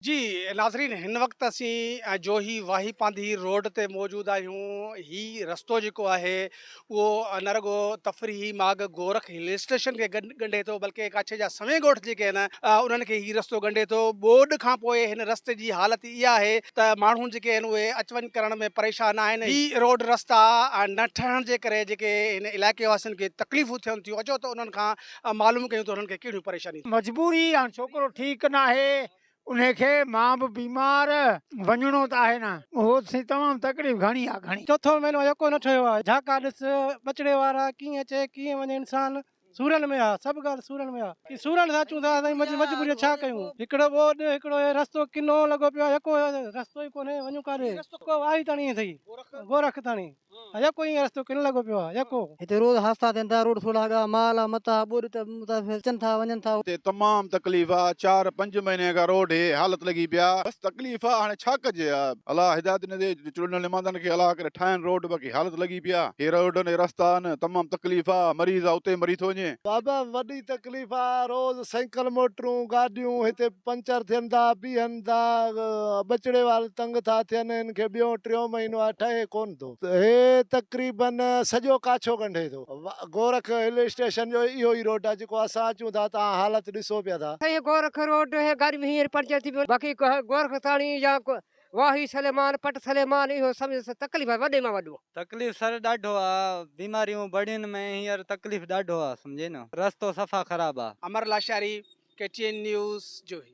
جي ناظرين هن وقت اسين جوهي واهي پانڌي روڊ تي موجود آهيون هي رستو جيڪو آهي اهو نه رڳو تفريحي ماڳ گورک هل اسٽيشن کي ڳنڍي ٿو بلڪه ڪاڇي جا سوين ڳوٺ جيڪي آهن انهن کي هي رستو ڳنڍي ٿو ٻوڏ کان پوء هن رستي جي حالت اها آهي ته ماڻهو جيڪي آهن اهي اچ وڃ ڪرڻ ۾ پريشان آهن هي روڊ رستا نه ٺهڻ جي ڪري جيڪي هن علائقي واسين کي تڪليفون ٿين ٿيون اچو ته انهن کان ۽ معلوم ڪيون ته انهن کي ڪهڙيون پريشانيون ٿيون. مجبوري آن ڇوڪرو ٺيڪ ناهي انهي کي مان به بيمار وڃڻو ته آهي نه اهو سين تمام تڪليف گهڻي آ گهڻي. چوٿون مهينو يڪو نه ٺهيو آ جهاڪا ڏس ٻچڙي وارا ڪيئن اچي ڪيئن وڃي انسان سورن ۾ آ سڀ ڳالهه سورن ۾ آ ڪي سورن سان اچون ٿا سائين مجبوري ڇا ڪيون هڪڙو ٻوڏ هڪڙو هي رستو ڪنو لڳو پيو آ يڪو رستو ئي ڪونهي وڃون ڪاڏي رستو ڪو آهي تڻي ٿئي گورک تڻي. اجهو ڪو ائين رستو ڪن لڳو پيو آ اجهو ڪو. هتي روز حادثا ٿين ٿا، روڊ سوڙها ڳاهه، مال، متاع، ٻوڏ ته مسافر اچن ٿا وڃن ٿا. هتي تمام تڪليف آ، چار پنج مهيني کان روڊ هي حالت لڳي پيا. بس تڪليف آ هاڻي ڇا ڪجي آ. الله هدايت ڏيندي چونڊيل نمائندن کي الله ڪري ٺاهين روڊ باقي حالت لڳي پيا هي روڊ هي رستا آهن تمام تڪليف آ مريض آ اتي مري ٿو وڃي. بابا وڏي تڪليف آ روز سينڪل موٽرون گاڏيون هتي پنچر ٿين ٿا بيهن. ڪن ٿا، ٻچڙي وارا تنگ ٿا ٿين، هن کي ٻيون ٽيون مهينو آهي، ٺهي ڪونه ٿو. هي تقريباً سڄو ڪاڇو ڳنڍي ٿو. گورک هل اسٽيشن جو اهو ئي روڊ آهي، جيڪو اسان اچون ٿا، توهان حالت ڏسو پيا ٿا. سائين گورک روڊ هي گاڏي به هينئر پنچر ٿي پيو. باقي گورک ٿاڻي يا واهي سليمان، پٽ سليمان اهو سمجهه تڪليف آهي وڏي مان وڏو. تڪليف سر ڏاڍو آ بيماريون بڙين ۾ هينئر تڪليف ڏاڍو آ سمجهي نه رستو صفا خراب آ. Amar Lashari, K T N news, Johi.